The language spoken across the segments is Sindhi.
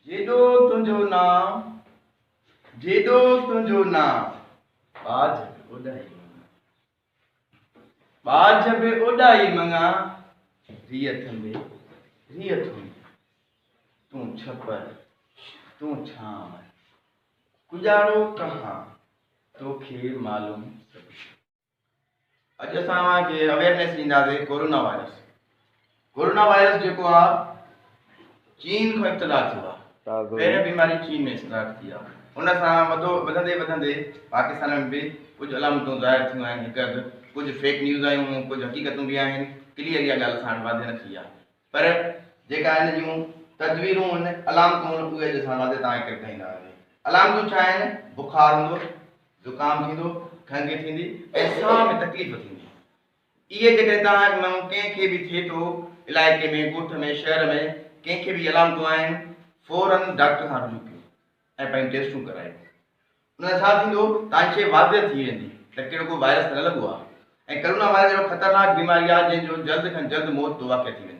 جيڏو تنهنجو نانء، جيڏو تنهنجو نانء. ٻاجهه به اوڏاهي مڱان، ٻاجهه به اوڏاهي مڱان. ريء ٿنڀي، ريء ٿنڀي. تون ڇپر، تون ڇانء. ڪڄاڙو ڪهان، توکي معلوم سڀ. اڄ اسان اوهان کي اويئرنيس ڏينداسي ڪورونا وائرس ڪورونا وائرس جيڪو آ چين کان ابتدا ٿيو آ پهرين بيماري چين ۾ اسٽارٽ ٿي آ ان سان وڌو وڌندي وڌندي پاڪستان ۾ به ڪجهه علامتون ظاهر ٿيون آهن هڪ اڌ ڪجهه فيڪ نيوز آيون هون ڪجهه حقيقتون به آهن ڪليئر اها ڳالهه اسان وٽ واضح نه ٿي آ پر جيڪا ان جون تدبيرون هن، علامتون هن، اهي اڄ اسان واضح توهان کي ڪري ٻڌائيندا هئاسين. علامتون ڇا آهن؟ بخار هوندو، زڪام ٿيندو، کنگهه ٿيندي ۽ ساهه ۾ تڪليف ٿيندي. اهي جيڪڏهن توهان مان ڪنهن کي به ٿئي ٿو، علائقي ۾، ڳوٺ ۾، شهر ۾، ڪنهن کي به اهي علامتون آهن، فوراً ڊاڪٽر سان رجوع ڪيو ۽ پنهنجون ٽيسٽون ڪرايو. ان سان ڇا ٿيندو توهان کي واضح ٿي ويندي ته ڪهڙو ڪو وائرس ته نه لڳو آهي ۽ ڪرونا وائرس اهڙو خطرناڪ بيماري آهي جنهن جو جلد کان جلد موت جو واقع ٿي وڃي.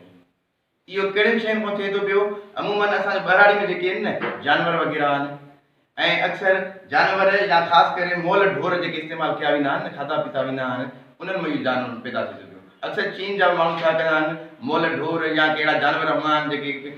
اهو ڪهڙين شين کان ٿئي ٿو پيو عمومن اسان جو ٻهراڙي ۾ جيڪي ان جانور وغيره آهن ۽ اڪثر جانور يا خاص ڪري مئل ڍور جيڪي استعمال ڪيا ويندا آهن کاڌا پيتا ويندا آهن انهن مان اهو جانور پيدا ٿي ٿو پيو اڪثر چين جا به ماڻهو ڇا ڪندا آهن مئل ڍور يا ڪي اهڙا جانور هوندا آهن جيڪي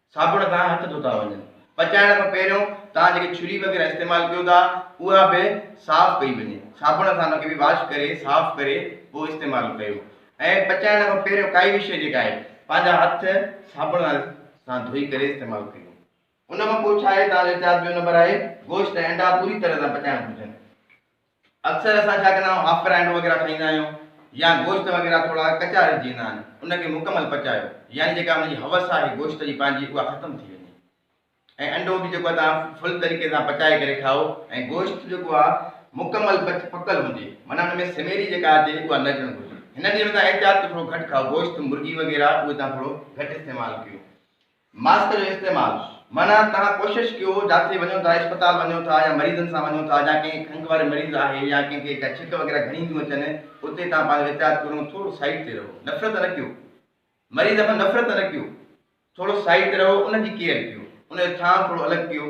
صابڻ کان هٿ ڌوتا وڃن. پچائڻ کان پهريون توهان جيڪي چھري وغيره استعمال ڪيو ٿا اها به صاف ڪئي وڃي. صابڻ سان ان کي به واش ڪري صاف ڪري پوء استعمال ڪيو ۽ پچائڻ کان پهريون ڪائي به شيء جيڪا آهي پنهنجا هٿ صابڻ سان ڌوئي ڪري استعمال ڪيو. ان کان پوء ڇا آهي توهان جو احتياط ٻيو نمبر آهي گوشت ۽ انڊا پوري طرح سان پچائڻ گهرجن. اڪثر اسان ڇا ڪندا آهيون آفرائيڊ وغيره کائيندا آهيون يا گوشت وغيره ٿورا ڪچا رهجي ويندا آهن ان کي مڪمل پچايو يعني جيڪا ان جي حوس آهي گوشت جي پنهنجي اها ختم ٿي وڃي ۽ انڊو به جيڪو توهان فل طريقي سان پچائي ڪري کائو ۽ گوشت جيڪو آهي مڪمل پچ پڪل هجي معنيٰ ان ۾ سميري جيڪا اچي اها نه اچڻ گهرجي هنن ڏينهن ۾ توهان احتياط ڪيو ٿورو گهٽ کائو گوشت مرغي وغيره اهي توهان ٿورو گهٽ استعمال ڪيو ماسڪ جو استعمال، معنيٰ توهان ڪوشش ڪيو جاٿي وڃو ٿا اسپتال وڃو ٿا يا مريضن سان وڃو ٿا جا ڪنهن کنگهه واري مريض آهي يا ڪنهن کي ڪا ڇڪ وغيره گهڻي ٿيون اچن اتي توهان پنهنجو احتياط ڪريو ۽ ٿورو سائيڊ تي رهو نفرت نه ڪيو مريض کان نفرت نه ڪيو ٿورو سائيڊ تي رهو ان جي ڪيئر ڪيو ان جو ٿانء ٿورو الڳ ڪيو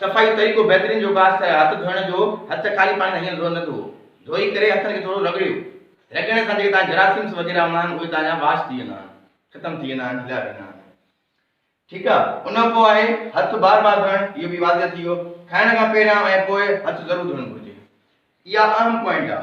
صفائي طريقو بهترين جو ڪاس ٿيا هٿ ڌوئڻ جو هٿ خالي پاڻي سان هيئن نه ڌوئو ڌوئي ڪري هٿن کي ٿورو رڳڙيو رڳڙڻ سان جيڪي تان جراثيمس وغيره هوندا آهن اهي تان جا واش ٿي ويندا آهن ختم ٿي ويندا آهن هليا ويندا آهن ٺيڪ آ ان کان پوء آهي هٿ بار بار ڌوئڻ اهو به واضح ٿي ويو کائڻ کان پهريان ۽ پوء هٿ ضرور ڌوئڻ گهرجي اها اهم پوائنٽ آ.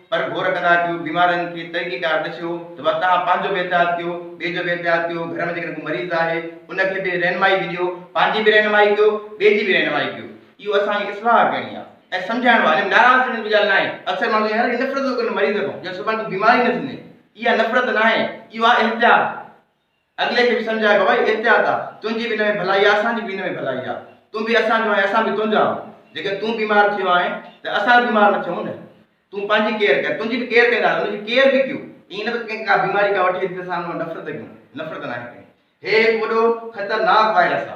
پر گور ڪندا ڪيو، بيمارن کي طريقيڪار ڏسيو ته وا توهان پنهنجو به احتياط ڪيو، ٻئي جو به احتياط ڪيو، گهر ۾ جيڪڏهن ڪو مريض آهي ان کي به رهنمائي به ڏيو، پنهنجي به رهنمائي ڪيو، ٻئي جي به رهنمائي ڪيو. اهو اسان کي اصلاح ڪرڻي آهي ۽ سمجهائڻو آهي، ناراض ٿيڻ جي ڳالهه ناهي، اڪثر ماڻهو چوندا آهن يار نفرت ٿو ڪرين مريض کان، ڄڻ سڀان کي بيماري نه ٿيندين، اها نفرت ناهي، اهو آهي احتياط. اڳلي کي به سمجهايو بابا هي احتياط آ، تنهنجي به ان ۾ ڀلائي آ، اسان جي به ان ۾ ڀلائي آ. تون به اسان جو آهين، اسان به تنهنجا آهون. جيڪڏهن تون بيمار ٿيو آهين ته اسان به بيمار نه ٿيون نه. تون پنهنجي ڪيئر ڪر، تنهنجي به ڪيئر ڪنداسين، ان جي ڪيئر به ڪيو. ائين نه ته ڪنهن کي ڪا بيماري ڪا وٺي اچي ته اسان ان مان نفرت ڪيون، نفرت ناهي ڪرڻي. هي هڪ وڏو خطرناڪ وائرس آ.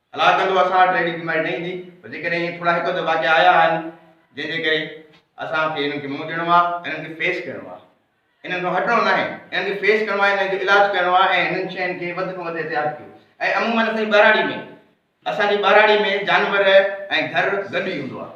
الله ڪندو اسان وٽ اهڙي بيماري نه ايندي پر جيڪڏهن ائين ٿورا هڪ اڌ واقعا آيا آهن جنهن جي ڪري اسان کي انهن کي منهن ڏيڻو آهي ۽ انهن کي فيس ڪرڻو آهي انهن کان هٽڻو ناهي انهن کي فيس ڪرڻو آهي انهن جو علاج ڪرڻو آهي ۽ هنن شين کي وڌ کان وڌ احتياط ڪيو ۽ عمومن اسان جي ٻهراڙي ۾ اسان جي ٻهراڙي ۾ جانور ۽ گهر گڏ ئي هوندو آهي.